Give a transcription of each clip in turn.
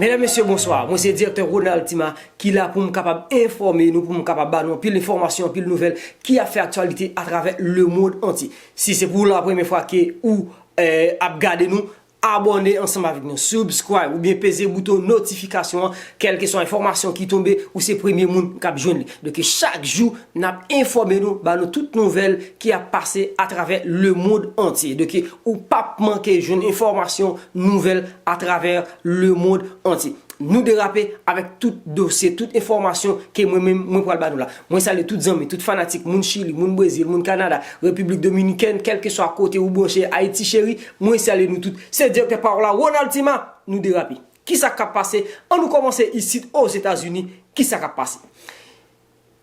Medam mesye bonswa, mwen se direktè Ronald Tima ki la pou m kapab enfòme nou, pou m kapab ba nou anpil enfòmasyon, anpil nouvèl ki ap fè aktyalite atravè lemond antye. Si se pou la premye fwa ke ou ap gade nou, Abòne ansanm avèk nou, subscribe, oubyen peze bouton notifikasyon an, kèlkeswa enfòmasyon ki tonbe, ou se premye moun k ap jwenn li. Dòke chak jou, n ap enfòme nou, ba nou tout nouvèl ki ap pase atravè lemond antye. Dòke ou p ap manke jwenn enfòmasyon, nouvèl atravè lemond antye. Nou derape avèk tout dosye, tout enfòmasyon ke mwen menm mwen pral ba nou la. Mwen salye tout zanmi, tout fanatik, moun Chili, moun Brezil, moun Kanada, Repiblik Dominikèn, kèlkeswa kote ou branche Ayiti Cheri. Mwen salye nou tout, se direktè pawòl la Ronald Tima, nou derape. Kisa kap pase, an nou kòmanse isit Ozetazini, kisa kap pase.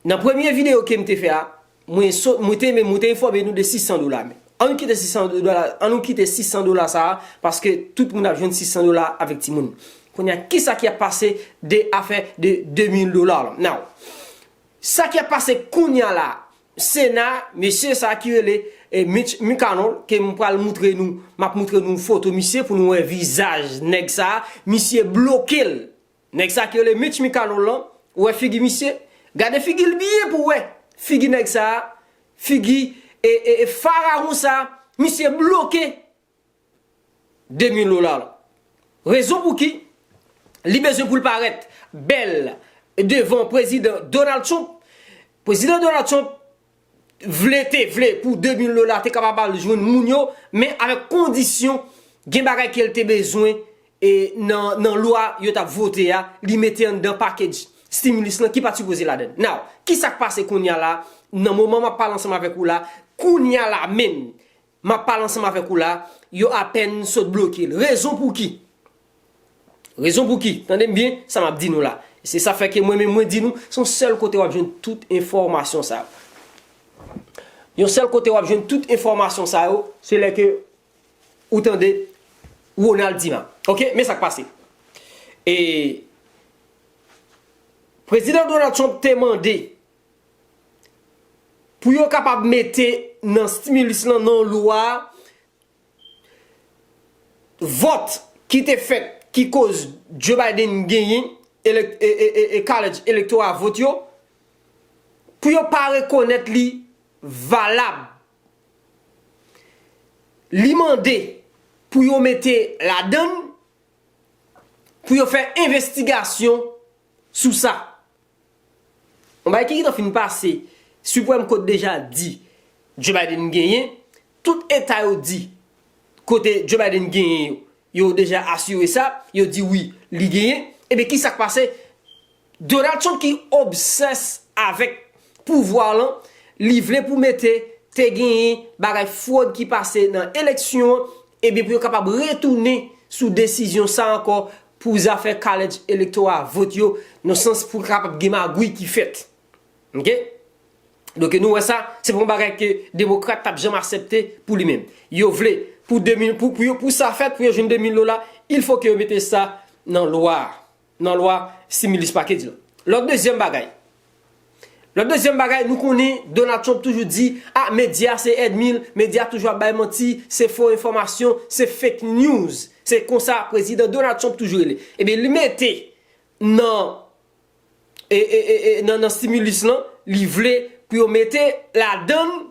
Nan premye videyo kem te fè a, mwen sot, mwen te menm, mwen te enfòme nou de 600 dola men. An nou kite 600 dola, an nou kite 600 dola sa a, paske tout moun ap jwenn 600 dola avèk timoun. Kounye a, kisa ki ap pase de afè de 2000 dola la. Now, sa ki ap pase kounye a la, Sena, mesye sa ki rele Mitch McConnell ke m pral moutre nou, m ap moutre nou foto misye pou nou wè vizaj nèg sa, misye bloke l. Nèg sa ki rele Mitch McConnell lan, ou wè figi misye? Gade figi l byen pou w wè figi nèg sa, figi farawon sa, misye bloke. Demi lola la. Rezon pouki li bezwen pou l parèt bèl devan prezidan Donald Trump, prezidan Donald Trump vle te vle pou demi lola te kapab al jwenn moun yo men avèk kondisyon gen bagay ke l te bezwen e nan lwa yo t ap vote a li mete anndan package stimulus lan ki pa t sipoze ladan l. Now, kisa k pase kounya la nan moman m ap pale ansanm avèk ou la kounya la menm Map pale ansanm avèk ou la, yo apèn sot bloke l. Rezon pou ki? Rezon pou ki? Tande m byen sa map di nou la. E se sa fè ke mwen menm mwen di nou, se yon sèl kote wap jwenn tout enfòmasyon sa yo. Yon sèl kote wap jwenn tout enfòmasyon sa yo, se lè ke ou tande Ronald Dumas. Ok, men sak pase. E Prezidan Donald Trump te mande pou yo kapab mete nan stimulus lan nan lwa a vòt ki te fèt ki koz Joe Biden genyen e college electoral vote yo pou yo pa rekonèt li valab li mande pou yo mete ladann pou yo fè investigasyon sou sa. Yon bagay ki gentan fin pase, Supreme Court deja di Joe Biden genyen, tout eta yo di kote Joe Biden genyen yo, yo deja asire sa, yo di wi li genyen, ebyen ki sa k pase? Donald Trump ki obsès avèk pouvwa lan, li vle pou mete te genyen bagay fwod ki pase nan eleksyon, ebyen pou yo kapab retounen sou desizyon sa ankò pou zafè kalej elektora a, vot yo, nan sans pou kapab gen magouy ki fèt. Ok? Donk e nou wè sa, se pa yon bagay ke demokrat tap janm asèpte pou li menm. Yo vle, pou 2000, pou, pou yo, pou sa fèt, pou yo jwenn 2000 dola, il fo ke yo mete sa nan lwa a, nan lwa similis pakej la. Lòt dezyèm bagay. Yon dezyèm bagay nou konnen Donald Trump toujou di ah medya se èdmi l, medya toujou ap bay manti, se fo enfòmasyon, se fake news. Se konsa prezidan Donald Trump toujou rele. Ebyen li mete nan nan stimulus lan, li vle pou yo mete ladan l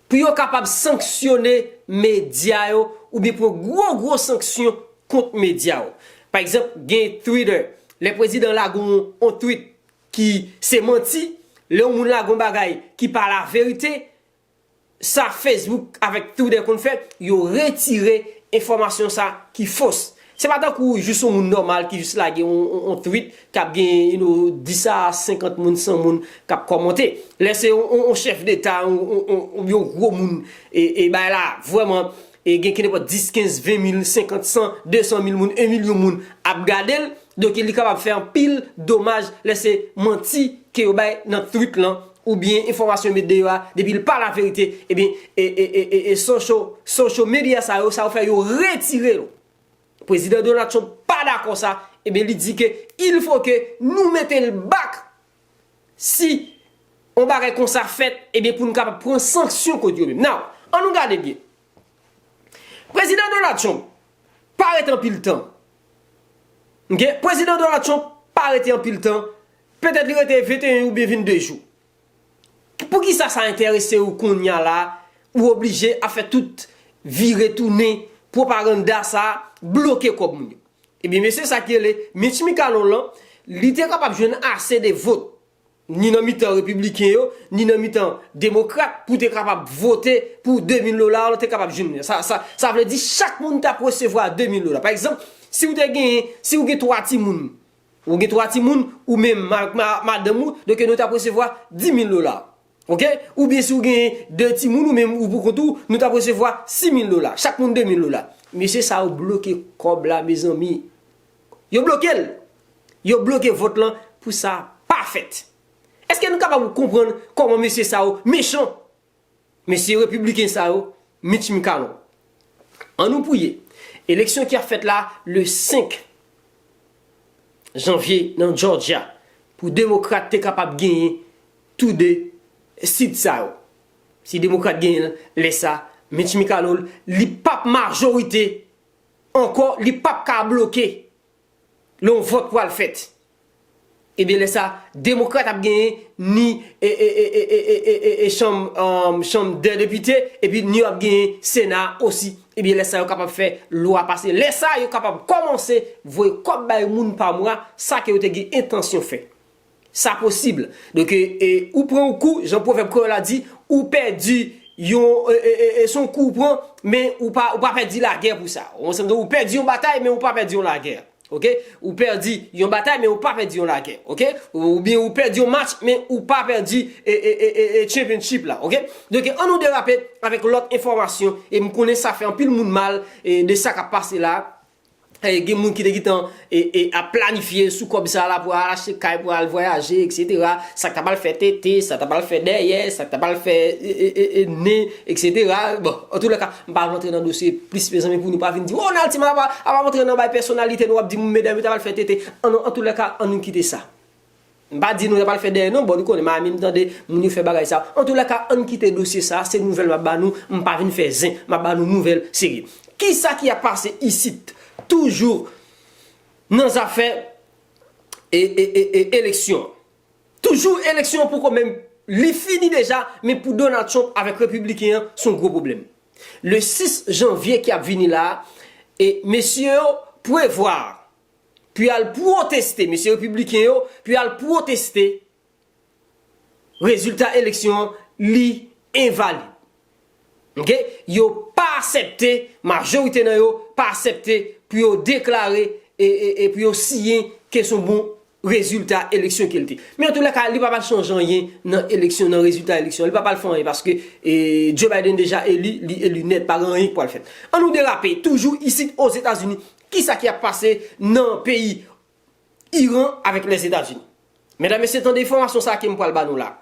pou yo kapab sanksyone medya yo oubyen pran gwo gwo sanksyon kont medya yo. Pa egzanp, gen Twitter, lè prezidan lage yon twit ki se manti, lè yon moun lage yon bagay ki pa laverite, sa Facebook avèk Twitter konn fè, yo retire enfòmasyon sa ki fos. Se pa tankou jis yon moun nòmal ki jis lage yon tweet kap gen you know 10 a 50 moun 100 moun kap kòmante. Lè se yon chèf deta oubyen yon gwo moun e bagay la vrèman e gen kenepòt 10, 15, 20 mil, 50, 100, 200 mil moun, 1 milyon moun ap gadel donk li kapab fè anpil domaj lè se manti ke yo bay nan tweet lan ou byen enfòmasyon yo met deyò a depi l pa laverite ebyen e socho socho medya sa yo sa yo fè yo retire yo prezidan Donald Trump pa dakò sa ebyen li di ke il fo ke nou mete l bak si yon bagay konsa fèt ebyen pou n kapab pran sanksyon kont yo menm naw an nou gade byen. Prezidan Donald Trump pa rete anpil tan. Ok, Prezidan Donald Trump pa rete anpil tan. Petèt li rete 21 ou byen 22 jou. Poukisa sa enterese ou kounya la, ou oblije ap fè tout vire tounen pwopaganda sa a, bloke kòb moun yo. Ebyen mesye sa ki rele Mitch Mcconnell lan, li te kapab jwenn ase de vot ni nan mitan repibliken yo, ni nan mitan demokrat pou te kapab vote pou 2000 dola ou te kapab jwenn li. Sa vle di chak moun tap resevwa 2000 dola. Pa egzanp, si ou te genyen, si ou gen 3 timoun, ou gen 3 timoun, ou menm ak madanm ou, doke nou tap resevwa 10000 dola. Ok? Ou byen si ou genyen 2 timoun ou menm ou pou kont ou, nou tap resevwa 6000 dola. Chak moun 2000 dola. Mesye sa yo bloke kòb la mezanmi. Yo bloke l! Yo bloke vòt lan pou sa pa fèt. Eske nou kapab konprann kòman mesye sa yo mechan? Mesye repibliken sa yo, Mitch McConnell. An nou priye, eleksyon ki ap fèt la le 5 janvye nan Jòjya, pou demokrat te kapab genyen tou 2 sit sa yo. Si demokrat genyen l, lè sa, Mitch McConnell, li pap majorite Ankò li pap ka bloke lè yon vòt pwal fèt. Ebyen lè sa demokrat ap genyen ni e chanm chanm dè depite epi ni yo ap genyen sena osi ebyen lè sa yo kapab fè lwa pase lè sa yo kapab kòmanse voye kòb bay moun pa mwa sa ke yo te gen entansyon fè. Sa posib. Donk e ou pran yon kou, jan pwovèb kreyòl la di, ou pèdi yon e se yon kou ou pran, men ou pa pèdi lagè pou sa. Ou konsann? Donk ou pèdi yon batay, men ou pa pèdi yon lagè. Ok? Ou pèdi yon batay, men ou pa pèdi yon lagè. Ok? Oubyen ou pèdi yon match, men ou pa pèdi e championship la. Ok? Donk e an nou derape avèk lòt enfòmasyon, e m konnen sa fè anpil moun mal e de sa k ap pase la. gen moun ki te gentan ap planifye sou kòb sa la pou al achte kay, pou al vwayaje eksetera, sa k ta pral fè tete, sa k ta pral fè dèyè, sa k ta pral fè nen eksetera, bon an tou lè ka m pa rantre nan dosye plis mezanmi pou nou pa vin di m oh Nalti m ap rantre nan bay pèsonalite nou ap di m medam yo ta pral fè tete, an nou an tou lè ka an nou kite sa. M pa di nou yap al fè dèyè non bon nou konnen Miami m tande moun yo fè bagay sa antoulèka ann kite dosye sa se nouvèl map ba nou m pa vin fè zen map ba nou nouvèl serye kisa ki ap pase isit toujou nan zafè eleksyon toujou eleksyon pou kò men li fini deja men pou Donald Trump avèk repibliken an son gwo pwoblèm le 6 janvye ki ap vini la mesye yo pwevwa pou y al pwoteste, mesye repibliken yo, pou y al pwoteste rezilta eleksyon an, li envalid. Ok, yo pa asèpte, majorite nan yo pa asèpte pou yo deklare e pou yo siyen ke son bon rezilta eleksyon ke li te. Men an tou lè ka, li pa pral chanje anyen nan eleksyon, nan rezilta eleksyon an, li pa pral fè anyen paske Joe Biden deja eli, li eli nèt, pa gen anyen ki pral fèt. An nou derape, toujou isit Ozetazini, Kisa ki ap pase nan peyi Iran avèk Lèzetazini? Medam, mesye tande enfòmasyon sa a ke m pral ba nou la.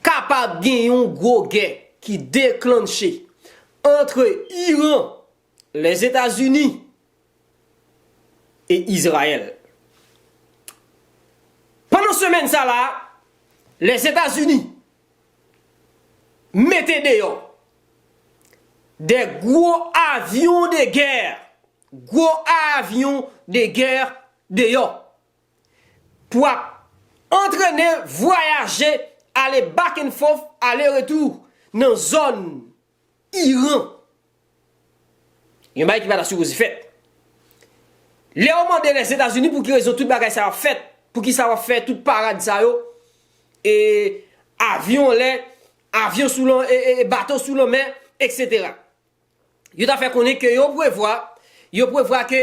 Kapab gen yon gwo gè ki deklanche antre Iran, Lèzetazini e Izrayèl. Pandan semèn sa la a, Lèzetazini mete deyò de gwo avyon de gè, gwo avyon de gè deyò pou ap antrene, vwayaje, ale back and forth, ale retou nan zòn. Iran. Yon bagay ki pa ta sipoze fèt. Lè ou mande Lèzetazini pou ki rezon tout bagay sa yo ap fèt, pou ki sa yo ap fè tout parad sa yo, e avyon an lè, avyon sou lan, e bato sou lanmè, eksetera. Yo ta fè konnen ke yo prevwa, yo prevwa ke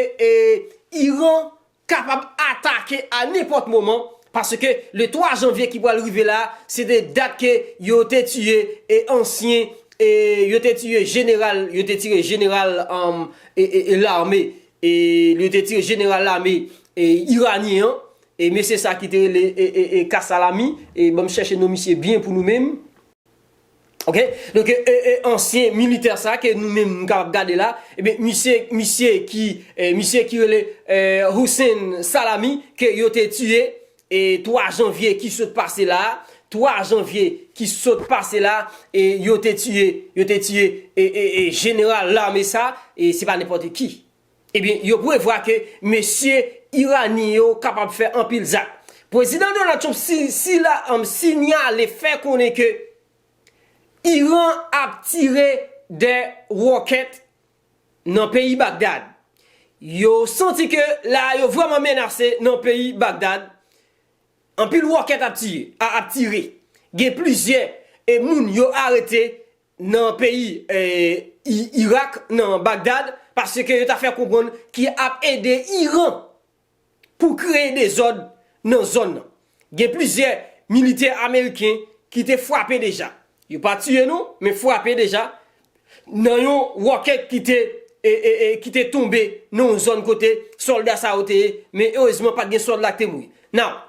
Iran kapab atake a nenpòt moman paske le 3 janvye ki pral rive la se te dat ke yo te tiye e ansyen e yo te tiye jeneral yo te tire jeneral an e lame e yo te tire jeneral lame e iranyen an e mesye sa ki te rele e e e kasalami e banm chèche non misye byen pou nou menm. Ok donk e ansyen militè sa ke nou menm nou kapab gade la ebyen misye misye ki misye ki rele Hussein Salami ke yo te tiye 3 janvye ki sot pase la 3 janvye ki sot pase la e yo te tiye yo te tiye e e e jeneral lame sa e se pa nenpòte ki Ebyen, yo prevwa ke mesye Iranyen yo kapab fè anpil zak. Pwezidan Donald Trump sila sinyale fè konnen ke Iran ap tire 2 ròkèt nan peyi Bagdad. Yo santi ke la a yo vrèman menase nan peyi Bagdad. Anpil ròkèt ap tire. Gen plizyè moun yo arete nan peyi Irak nan Bagdad paske yo ta fè konprann ki ap ede Iran pou kreye dezòd nan zòn nan. Gen plizyè militè ameriken ki te frape deja, yo pa tiye non men frape deja nan yon rocket ki te tonbe nan yon zòn kote sòlda sa yo te ye men erezman pat gen sòlda ki te mouri. Now,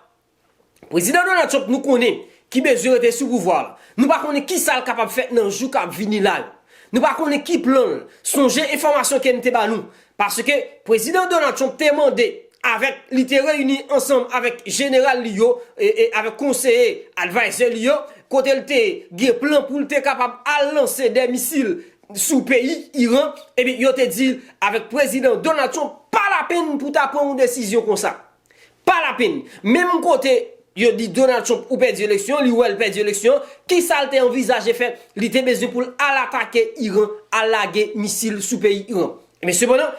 Prezidan Donald Trump nou konnen ki bezwen rete sou pouvwa l. Nou pa konnen kisa l kapab fè nan jou kap vini la yo. Nou pa konnen ki plan l. Sonje enfòmasyon ke m te ba nou. Paske Prezidan Donald Trump te mande avèk li te reyini ansanm avèk jeneral li yo e avèk konseye, advisor, li yo kote l te gen plan pou l te kapab al lanse 2 misil sou peyi Iran. Ebyen yo te di l avèk Prezidan Donald Trump pa lapenn pou ta pran yon desizyon konsa. Pa la peni. Menm kote yo di Donald Trump ou pèdi eleksyon an, li wè l pèdi eleksyon an, ki sa l te anvizaje fè? Li te bezwen pou l al atake Iran, al lage misil sou peyi Iran. Men sepandan,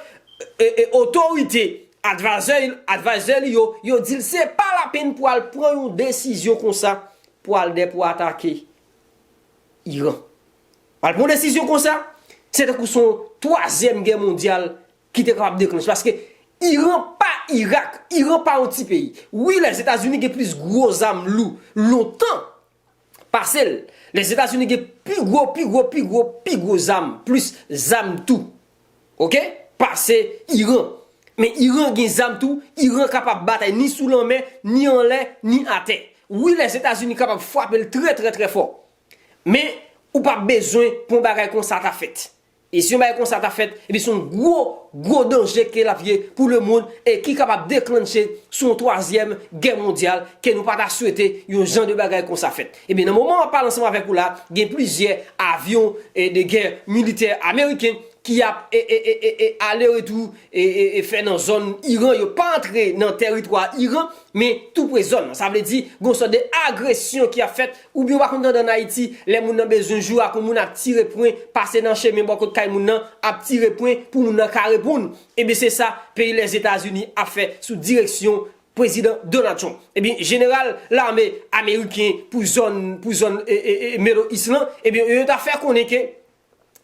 otorite, advisor, advisor li yo, yo di l se pa la peni pou al pran yon desizyon konsa pou al dè pou atake Iran. Al pran yon desizyon konsa, se tankou se yon twazyèm gè mondyal ki te kapab deklanche paske Iran pa Irak Iran pa yon ti peyi wi lèzetazini gen plis gwo zam lou lontan pase l lèzetazini gen pi gwo pi gwo pi gwo pi gwo zam plis zam tou ok pase Iran men Iran gen zam tou Iran kapab batay ni sou lanmè ni anlè ni atè wi lèzetazini kapab fwape l trè trè trè fò men ou pa bezwen pou yon bagay konsa ta fèt E si yon bagay konsa ta fèt, epi se yon gwo, gwo danje ke l ap ye pou lemonn e ki kapab deklannche sou yon twazyèm gè mondyal ke nou pa ta swete yon jan de bagay konsa fèt. Ebyen nan moman map pale ansanm avèk ou la, gen plizyè avyon de gè militè ameriken ki ap ale retou fè nan zòn Iran, yo pa antre nan tèritwa Iran, men tou pre zòn nan. Sa vle di gon sòt de agresyon ki ap fèt Ou gen ou pa konn tande an Ayiti, lè moun nan bezwen jwe ak yon moun ap tire pwen, pase nan chemen bò kot kay moun nan, ap tire pwen pou moun nan ka reponn. Ebyen se sa peyi Lèzetazini ap fè sou direksyon Prezidan Donald Trump. Ebyen jeneral lame ameriken pou zòn pou zòn Middle East lan, ebyen yo ta fè konnen ke.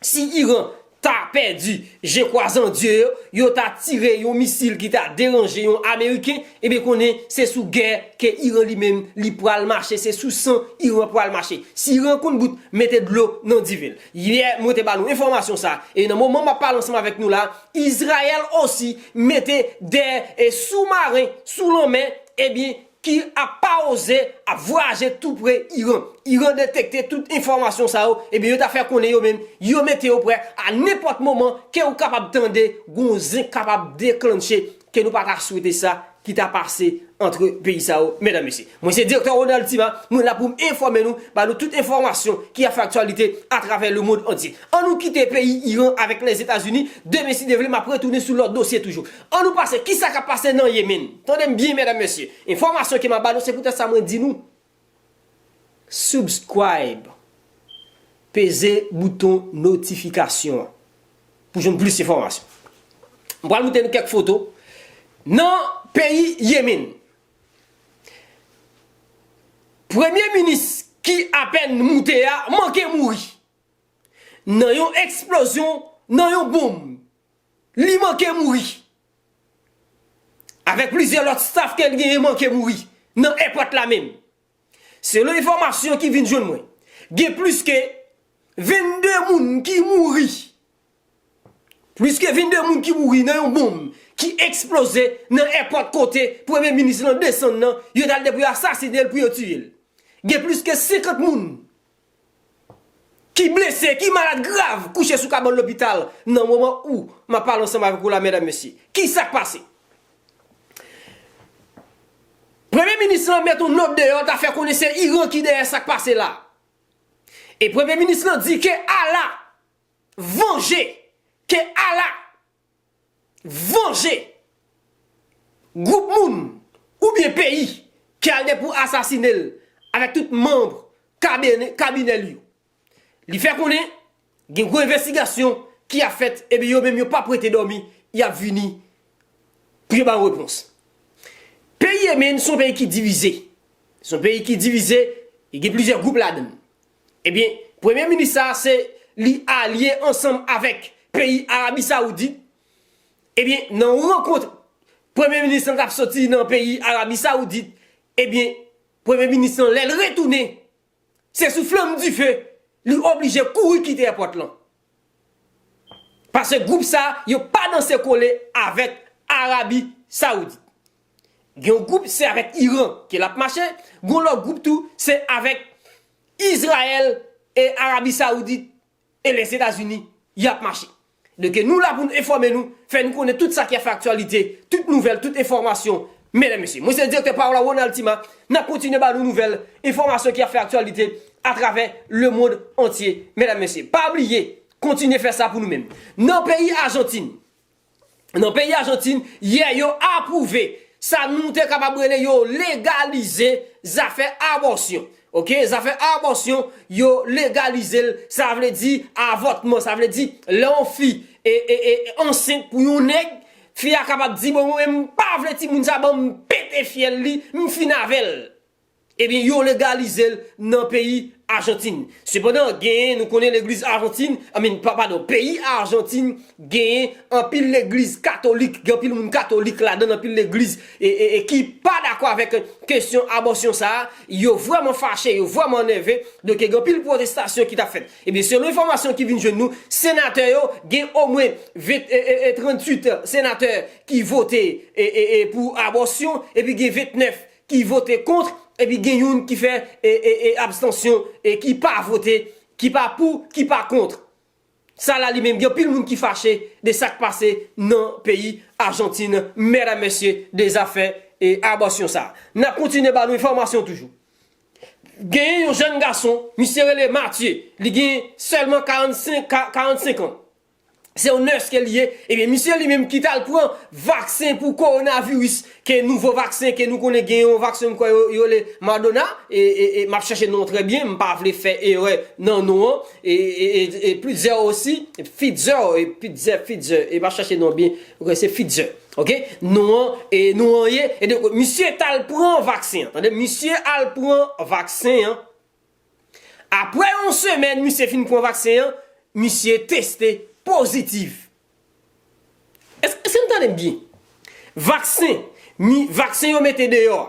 si Iran ta pèdi je kwazandye yo, yo ta tire yon misil ki ta deranje yon ameriken, ebyen konnen se sou gè ke Iran li menm li pral mache, se sou san Iran pral mache. Si Iran konn gout, mete dlo nan diven l. Yè mwen te ba nou enfòmasyon sa, e nan moman map pale ansanm avèk nou la, Izrayèl osi mete 2 e sou maren sou lanmè, ebyen ki ap pa oze ap vwayaje tou pre Iran. Iran detekte tout enfòmasyon sa yo, ebyen yo ta fè konnen yo menm, yo mete yo prè a nenpòt moman ke ou kapab tande gon zen kapab deklanche ke nou pa ta swete sa ki ta pase antre peyi sa yo, medam mesye. Mwen se Direktè Ronald Tima, mwen la pou m enfòme nou, ba nou tout enfòmasyon ki ap fè aktyalite atravè lemond antye. An nou kite peyi Iran avèk Lèzetazini, demen si Dye vle m ap retounen sou lòt dosye toujou. An nou pase ki sa kap pase nan Yemen. Tande m byen medam mesye. Enfòmasyon ke map ba nou se poutèt sa mwen di nou subscribe peze bouton notifikasyon an pou jwenn plis enfòmasyon. M pral moutre nou kèk foto nan peyi Yemen. Premye minis ki apèn moute a manke mouri nan yon eksplozyon nan yon bonm. Li manke mouri. Avèk plizyè lòt staf ke li genyen manke mouri nan èpòt la menm. Selon enfòmasyon ki vin jwenn mwen, gen plis ke 22 moun ki mouri. Plis ke 22 moun ki mouri nan yon bonm ki eksploze nan èpòt kote premye minis lan desann nan, yo t al de pou yo asasine l, pou yo tiye l. Gen plis ke 50 moun ki blese, ki malad grav kouche sou kabann lopital nan moman ou m ap pale ansanm avèk ou la medam mesye. Ki sa k pase? Premye minis lan met yon nòt deyò ta fè konnen se Iran ki dèyè sa k pase la. E premye minis lan di ke Allah vanje, ke Allah Vanje! Gwoup moun oubyen peyi ki al gen pou asasine l avèk tout manb kabinè li yo. Li fè konnen gen gwo envestigasyon ki ap fèt epi yo menm yo pap rete dòmi y ap vini pou yo ba yon repons. Peyi Yemen se yon peyi ki divize. Se yon peyi ki divize, gen plizyè gwoup ladan l. Ebyen premye minis sa a se li alye ansanm avèk peyi Arabi Saoudit, ebyen nan yon rankont premye minis lan t ap soti nan peyi Arabi Saoudit, ebyen premye minis lan lè l retounen se sou flanm dife li oblije kouri kite èpòt lan. Pase gwoup sa yo pa danse kole avèk Arabi Saoudit. Gen yon gwoup se avèk Iran ke lap mache, gen yon lòt gwoup tou se avèk Izrayèl e Arabi Saoudit e Lèzetazini yap mache. Donke nou la pou nou enfòme nou, fè nou konnen tout sa ki ap fè aktyalite, tout nouvèl, tout enfòmasyon Medam mesye, mwen se direktè Paola Ronald Tima, nap kontinye ba nou nouvèl, enfòmasyon ki ap fè aktyalite atravè le mond antye medam mesye. Pa bliye kontinye fè sa pou nou menm. Nan peyi Ajantin, nan peyi Ajantin yè yo apwouve sa nou te kapab rele yo legalize zafè abòsyon. Ok, zafè abòsyon yo legalize l, sa vle di avòtman, sa vle di lè yon fi ansent pou yon nèg, Fi a kapab di bon mwen menm m pa vle timoun sa banm m pete fyèl li m fin avèl. Ebyen yo legalizel nan peyi Ajantin. Sepandan genyen nou konnen legliz Ajantin I mean padon peyi Ajantin genyen anpil legliz katolik gen anpil moun katolik ladan anpil legliz ki pa dakò avèk kesyon abòsyon sa yo vrèman fache yo vrèman nève donk gen anpil pwotestasyon ki tap fèt. Ebyen selon enfòmasyon ki vin jwenn nou, senatè yo gen omwen 38 senatè ki vote pou abòsyon epi gen 29 ki vote kont epi gen youn ki fè abstansyon ki pa vote, ki pa pou, ki pa kont. Sa la li menm gen anpil moun ki fache de sak pase nan peyi Ajantin medam mesye de zafè abòsyon sa. Nap kontinye ba nou enfòmasyon toujou. Genyen yon jèn gason, misye rele Matye, li gen sèlman 45 an. Se yon nès ke li ye, ebyen misye li menm ki t al pran vaksen pou kowonaviris, ke nouvo vaksen ke nou konnen gen yon vaksen m kwè yo rele Madona, m ap chèche non trè byen, m pa vle fè erè nan non an, e Pritzer osi, Pfizer, Pfizer, Pfizer, e m ap chèche non byen, m kwè se Pfizer. Ok nou an e nou an ye e donk misye tal pran vaksen an tande misye al pran vaksen an aprè yon semèn misye fin pran vaksen an misye teste pozitif èske nou tandem byen vaksen mi vaksen yo mete deyò a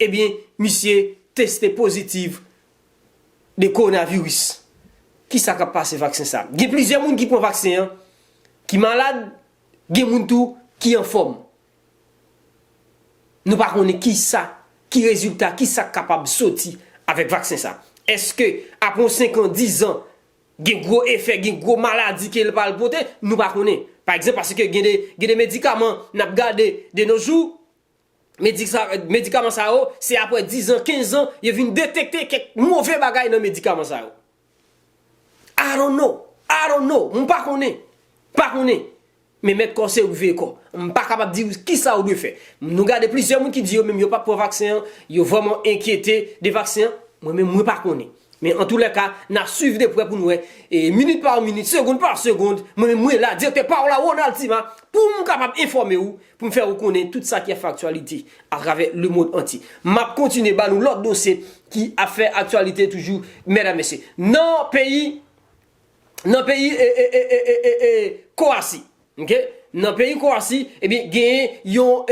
Ebyen misye teste pozitiv de kowonaviris. Kisa kap pase vaksen sa? Gen plizyè moun ki pran vaksen an ki malad, gen moun tou ki anfòm. Nou pa konnen kisa, ki rezilta, kisa k kapab soti avèk vaksen sa. Eske apre yon 5 an, 10 an, gen gwo efè, gen gwo maladi ke l pral pote? Nou pa konnen. Pa egzanp, paske gen de medikaman n ap gade de no jou, medikaman sa yo, se apre 10 ans, 15 ans, yo vin detekte kèk move bagay nan medikaman sa yo. I don't know, I don't know, m pa konnen, m pa konnen. Men mèt kò se ou ki veye kò. M pa kapab di ou kisa ou dwe fè. Nou gade plizyè moun ki di yo menm yo pap pran vaksen an, yo vrèman enkyete de vaksen an, mwen menm mwen pa konnen. Men an tou lè ka, n ap swiv de prè pou n wè, minit pa minit, segond pa segond, mwen menm mwen la, direktè pa w la, Ronald Tima, pou m kapab enfòme ou, pou m fè ou konnen tout sa ki ap fè aktyalite atravè lemond antye. M ap kontinye ba nou lòt dosye ki ap fè aktyalite toujou, mèdam mesye. Nan peyi, nan peyi e e e e e e Kowasi. Ok Nan peyi Kowasi, ebyen genyen yon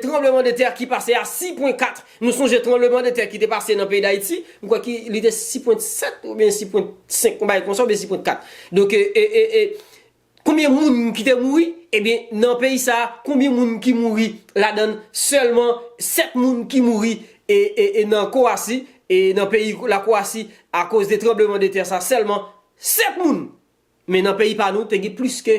tranbleman de tè ki pase a 6 pwen 4. Nou sonje tranbleman de tè ki te pase nan peyi Dayiti, m kwè ki li te 6 pwen 7 ou byen 6 pwen 5, yon bagay konsa ou byen 6 pwen 4. Donk e, e, e, e, konbyen moun ki te mouri? Ebyen nan peyi sa a, konbyen moun ki mouri ladann sèlman 7 moun ki mouri e, e, e, nan Kowasi, e, nan peyi la Kowasi akoz de tranbleman de tè sa sèlman 7 moun! Men nan peyi pa nou te gen plis ke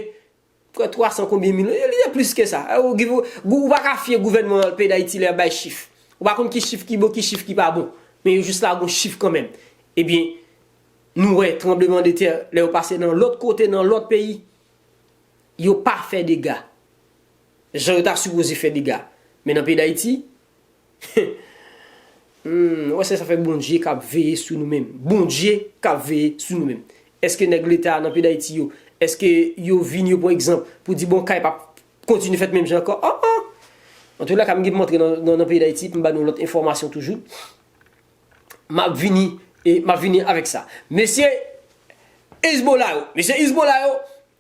kwè 300 konbyen mil, li te plis ke sa. Ou pa ka fye gouvènman peyi Dayiti lè y ap bay chif. Ou pa konn ki chif ki bon, ki chif ki pa bon. Men yo jis lage yon chif kanmenm. Ebyen, nou wè tranbleman de tè lè yo pase nan lòt kote, nan lòt peyi, yo pa fè dega. Jan yo ta sipoze fè dega. Men nan peyi Dayiti, Humm wè sesa fè bondye kap veye sou nou menm bondye kap veye sou nou menm eske nèg leta a nan peyi dayiti yo eske yo vin yo pwan egzanp pou di bon kay pap kontinye fèt menm jan ankò an an antoulakam gen pou mwen antre nan peyi dayiti pou m ba nou lòt enfòmasyon toujou. Map vini e map vini avèk sa. Mesye Hezbollah yo, mesye Hezbollah yo,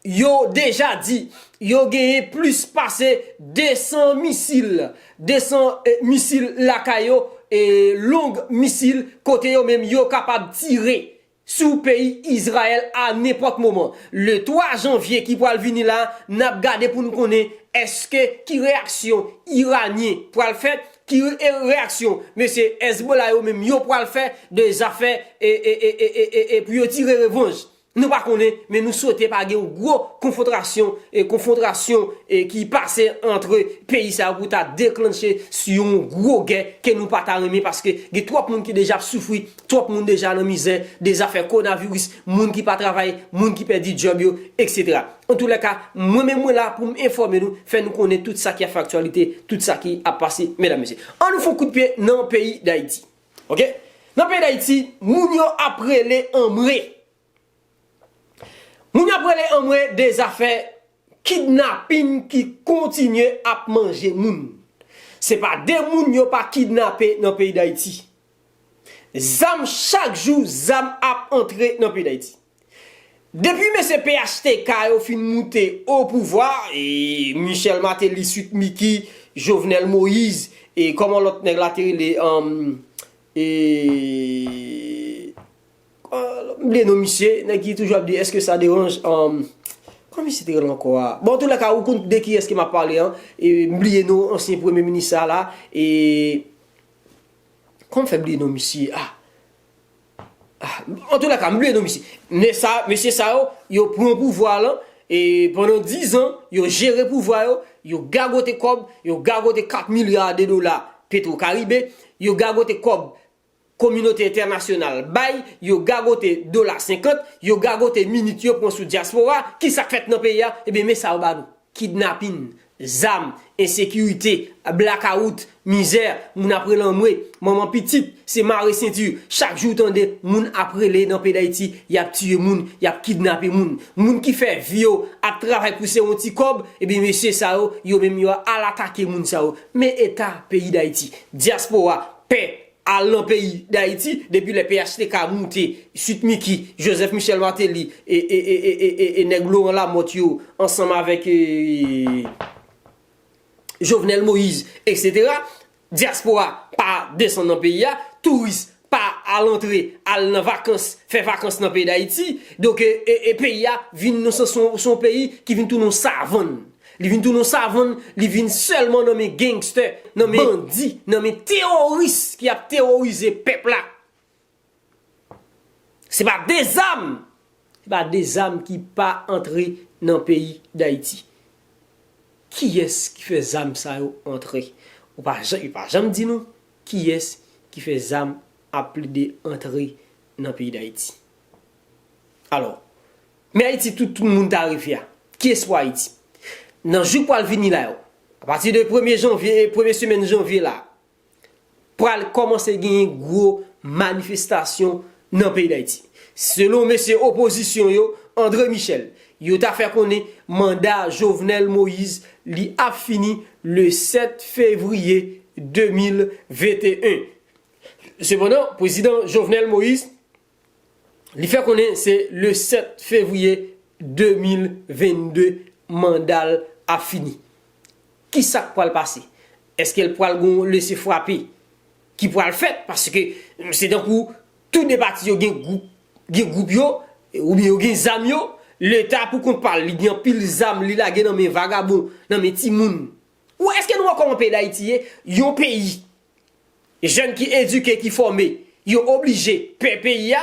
yo deja di yo genyen plis pase 200 misil, 200 misil lakay yo, e long misil kote yo menm yo kapab tire. sou peyi Izrayèl a nenpòt moman. Le 3 janvye ki pral vini la, n ap gade pou n konnen èske ki reyaksyon Iranyen pral fè, ki reyaksyon mesye Hezbollah yo menm yo pral fè de zafè pou yo tire revanj. Nou pa konnen, men nou swete pa gen yon gwo konfotrasyon, konfwontrasyon ki pase antre peyi sa yo pou ta deklannche yon gwo gè ke nou pa ta renmen paske gen twòp moun ki deja ap soufri Twòp moun deja nan mizè de zafè kowonaviris, moun ki pa travay, moun ki pèdi djòb yo, etc. Antoulèka, mwen menm mwen la pou m enfòme nou, fè nou konnen tout sa ki ap fè aktyalite, tout sa ki ap pase, medam mesye. An nou fè yon kout pye nan peyi Dayiti. Ok. Nan peyi Dayiti, moun yo ap rele anmwe. Moun yo ap rele anmwe de zafè kidnapin ki kontinye ap manje moun. Se pa de moun yo pa kidnape nan peyi Dayiti. Zam chak jou zam ap antre nan peyi Dayiti. Depi mesye phtk yo fin moute o pouvwa, Michel Martelly, Sweet Micky, Jovenel Moïse e kòman lòt nèg la te rele? M bliye non misye, nèg ki toujou ap di eske sa deranj Kòman misye te rele ankò a? Bon antoulè ka ou konn de kiyès ke m ap pale an M bliye non ansyen premye minis sa la e Kòman m fè bliye non misye a? Antoulè ka m bliye non misye Nèg sa yo, mesye sa yo, yo pran pouvwa lan e pandan 10 an yo jere pouvwa yo Yo gagote kòb, yo gagote 4 milya de dola petro karibe Yo gagote kòb Kominote entènasyonal bay, yo gagote dola 50, yo gagote minit yo pran sou dyaspora, ki sa k fèt nan peyi a? Ebyen men sa yo ba nou, kidnapin, zam, ensekirite, blakawout, mizè, moun ap relanmwe, manman pitit, se mare senti, chak jou w tande moun ap rele nan peyi Dayiti y ap tiye moun, y ap kidnape moun. Moun ki fè vi yo ap travay pou se yon ti kòb, ebyen mesye sa yo, yo menm yo al atake moun sa yo. Men eta peyi Dayiti, dyaspora. pè al nan peyi dayiti depi lè phtk moute sweet micky joseph michel martelly e nèg laurent lamothe yo ansanm avèk jovenel moïse etc diaspora pa desann nan peyi a touris pa al antre al nan vakans fè vakans nan peyi dayiti donk peyi a vin son peyi ki vin tounen yon savann Li vin tounen yon savann, li vin sèlman nan men gangster, nan men bandi, nan men teworis ki ap teworize pèp la. Se pa de zam, se pa de zam ki pa antre nan peyi Dayiti. Kiyès ki fè zam sa yo antre? Yo pa janm di nou kiyès ki fè zam ap plede antre nan peyi Dayiti. Alò, Men Ayiti tout moun ta reve a. Ki espwa Ayiti? Nan jou k pral vini la yo, apati de premye janvye, premye semèn janvye la, pral kòmanse genyen gwo manifestasyon nan peyi Dayiti. Selon mesye opozisyon yo, Andre Michel, yo ta fè konnen manda Jovenel Moïse li ap fini le 7 fevriye 2021. Sepandan, Pwezidan Jovenel Moïse, Li fè konnen se le 7 fevriye 2022 manda l ap fini. Ki sa k pral pase? Eske l pral gen yon lese frape ki pral fèt? Paske se tankou tou de pati yo gen gwoup yo oubyen yo gen zam yo. Leta pou kont pa l, li gen anpil zam li lage nan men vagabon, nan men timoun. Ou wè eske nou wè kòman peyi Dayiti ye? Yon peyi Jèn ki edike, ki fòme, yo oblije pè peyi a,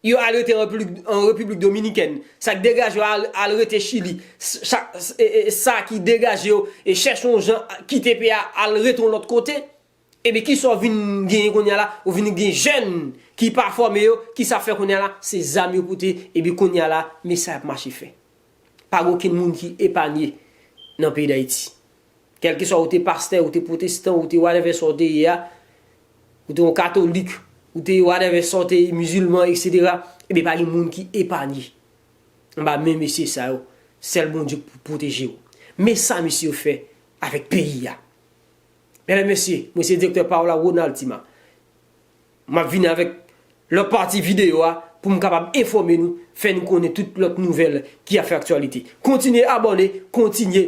yo al rete an Repiblik Dominikèn. Sa k degaje yo al rete Chili, sa ki degaje yo chèche yon jan kite peyi a al rete yon lòt kote. Ebyen ki sa w vin genyen kounye a la? Ou vin gen jèn ki pa fòme yo, ki sa y ap fè kounye a la? Se zam yo pote, ebyen kounye a la, men sa y ap mache fè. Pa gen okenn moun ki epanye nan peyi Dayiti. Kèlkeswa ou te pastè, ou te pwotestan, ou te whatever sa w te ye a, ou te yon katolik, ou te whatever sa w te ye, mizilman, etc. Ebyen pa gen moun ki epanye anba men mesye sa yo. Sèl Bondye k pou pwoteje w. Men sa mesye yo fè avèk peyi a. Mèdam mesye, mwen se Direktè Paola Ronald Tima. M ap vini avèk lòt pati videyo a pou m kapab enfòme nou, fè nou konnen tout lòt nouvèl ki ap fè aktyalite. Kontinye abòne, kontinye.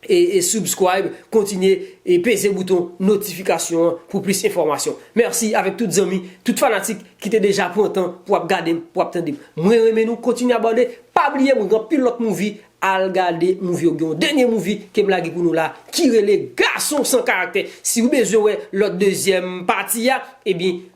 e subscribe kontinye e peze bouton notifikasyon an pou plis enfòmasyon mèsi avèk tout zanmi tout fanatik ki te deja pran tan pou ap gade m pou ap tande m mwen renmen nou kontinye abòne pa bliye mwen gen anpil lòt mouvi al gade mouvi yo gen yon dènye mouvi kem lage pou nou la ki rele gason san karaktè siw bezwen wè lòt dezyèm pati a ebyen